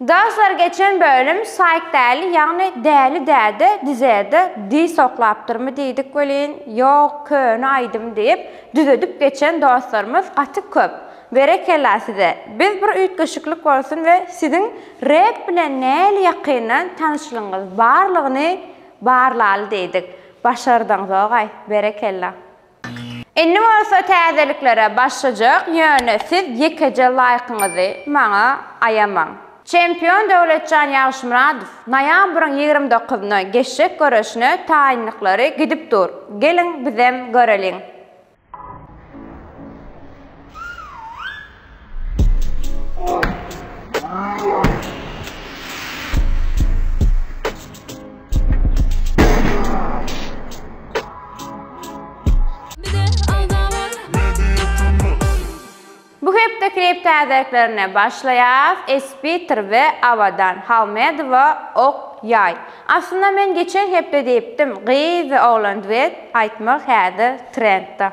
Dostlar geçen bölüm Saýk Däli ýagny Däli däde dizede dis oklapdyrmy diýdik welin ýok köne aýdym diýip düzedip geçen dostlarymyz gaty köp berekella size biz bir üýtgeşiklik bolsun we siziň rep bilen näli ýakyndan tanyşlygyňyz barlygyny barlaly diýdik başardyňzogaý berekella. Indi bolsa täzeliklere başlajak, ýöne siz ýekeje laýkyňyzy maňa aýamaň. Çempion Döwletjan Ýagşymyradow noýabryň ýigrimi dokuzyna geçjek göreşine taýynlyklary gidip dur, geliň bizem göreliň. Bu hepde klip täzeliklerine başlaýas, Espiter we Awadan Halmedowa Ok ýaý. Aslynda men geçen hepde diýipdim, gyz we oglan duet aýtmak häzir trendda.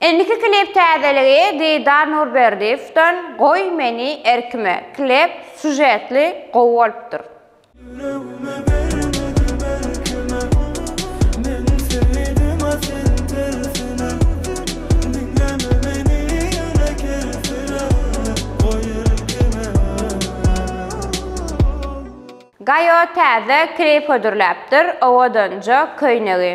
Indiki klip täzeligi Didar Nurberdiýewden Goý meni erkime klip sužetli gowy bolupdyr. Ýüregimi bermedim erkime Men söýdim a sen tersine Diňleme meni ýöne kersine Goý erkime Gaýo täze klip hödürläpdir owadanja köýnegi.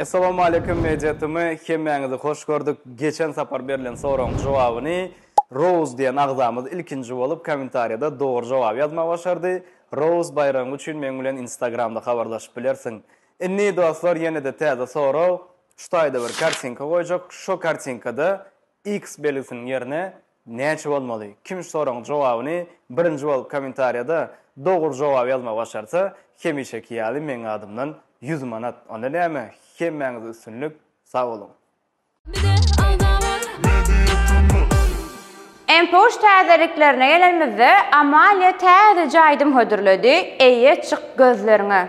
Essalawmaleýkim Meýjetimi hemmäňizi hoş gördük geçen sapar berlen soragyň jogabyny Rouz diýen agzamyz ilkinji bolup komentarýada dogry jogaby ýazmagy başardy Rouz baýragyň üçin meň bilen instagramda habarlaşyp bilersiň Indi dostlar ýenede täze sorag şu taýda bir kartinka goýjak şo kartinkada X belgisiniň ýerine Näçe bolmaly? Kim şu soragyň jogabyny birinji bolup kommentariýada dogry jogaby ýazmagy başarsa, hemişeki ýaly meň adymdan ýüz manat. Onda näme, hemmäňize üstünlik, sag boluň! Mpoş täzeliklerine gelenimizde Amalia täzeje aýdym hödürledi, Eýe çyk gözleriňe.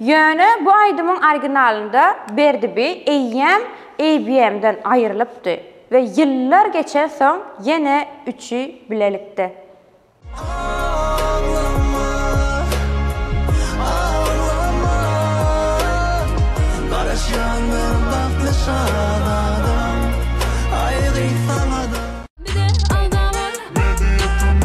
Ýöne bu aýdymyň originalynda Berdi bi eýýäm ABM-den aýrylypdy we ýyllar geçen soň ýene üçi bilelikde. Aglama, aglama, Garaşýandyr bagtly şat adam, Aýgy saňa-da. Bize aldama. Media tm.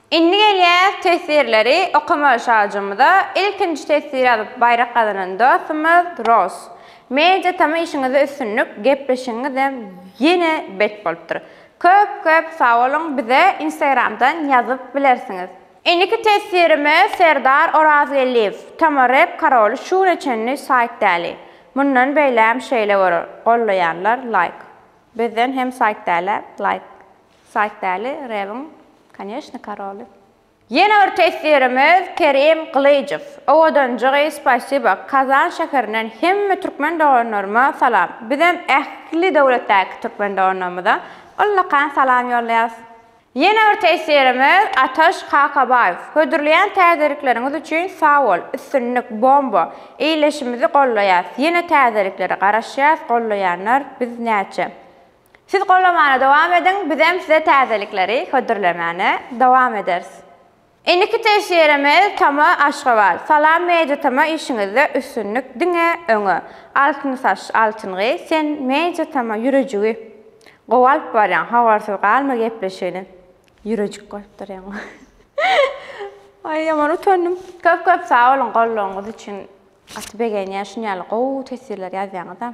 Indi gelýäs teswirleri okamaga Şajymyza ilkinji teswir ýazyp baýrak gazanan dostumyz Roz. Media tm işiňizde üstünlik gepleşigiňizem ýene bet bolupdyr. Köp köp sagboluň bize instagramdan ýazyp bilersiňiz. Indiki teswirimi Serdar Orazgeldiýew tm rep karoly şu güne çenli saýt däli. Mundan beýläm şeýle bolar golleýanlar laýk. Bizden hem saýt dälä laýk. Saýt däli rebiň koneşni karoly. Ýene bir teswirimiz Kerim Gylyjow. Owadanjygy spasiba Kazan şäherinden hemme türkmen doganlaryma salam. Bizem ähli döwletdäki türkmen doganlarymyza ullakan salam ýollaýas. Ýene bir teswirimiz Ataş Kakabaýew. Hödürleýän täzelikleriňiz üçin sag bol. Üstünlik, bomba. Eýleşimizi gollaýas. Ýene täzeliklere garaşýas, gollaýanlar biz näçe. Siz gollamana dowam ediň bizem size täzelikleri hödürlemäne dowam ederis. Indiki teş ýerimiz Tama Aşgabat. Salam Media Tama işiňizde üstünlik diňe öňe. Altyn saç altyn gyz sen Media Tama ýürejigi gowy alyp barýaň habarsyz galma gepleşigini ýürejik goýup durýaň. Aý ýaman utandym. Köp köp sag boluň gollawyňyz üçin gaty begenýän şunýaly gowy teswirler ýazýaňyza.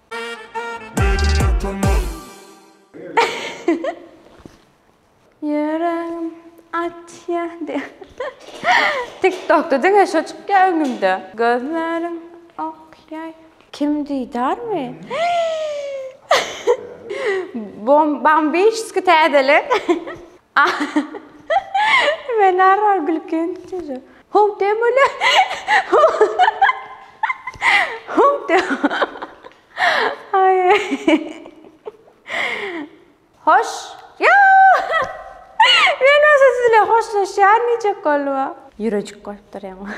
Ýüregim atýa Tiktokda diňe şo çykýa öňümde Gözlerim okýaý Kim diýdarmy Bambiçski täzelik. Men arrar gülkümi tutýajak. Howp diýen bolýa. Howp diýen. Aý. Hoş. Ýa! Men bolsa siz bilen hoşlaşýan diýjek boldum-a. Ýürejik bolupdyr ýaňy.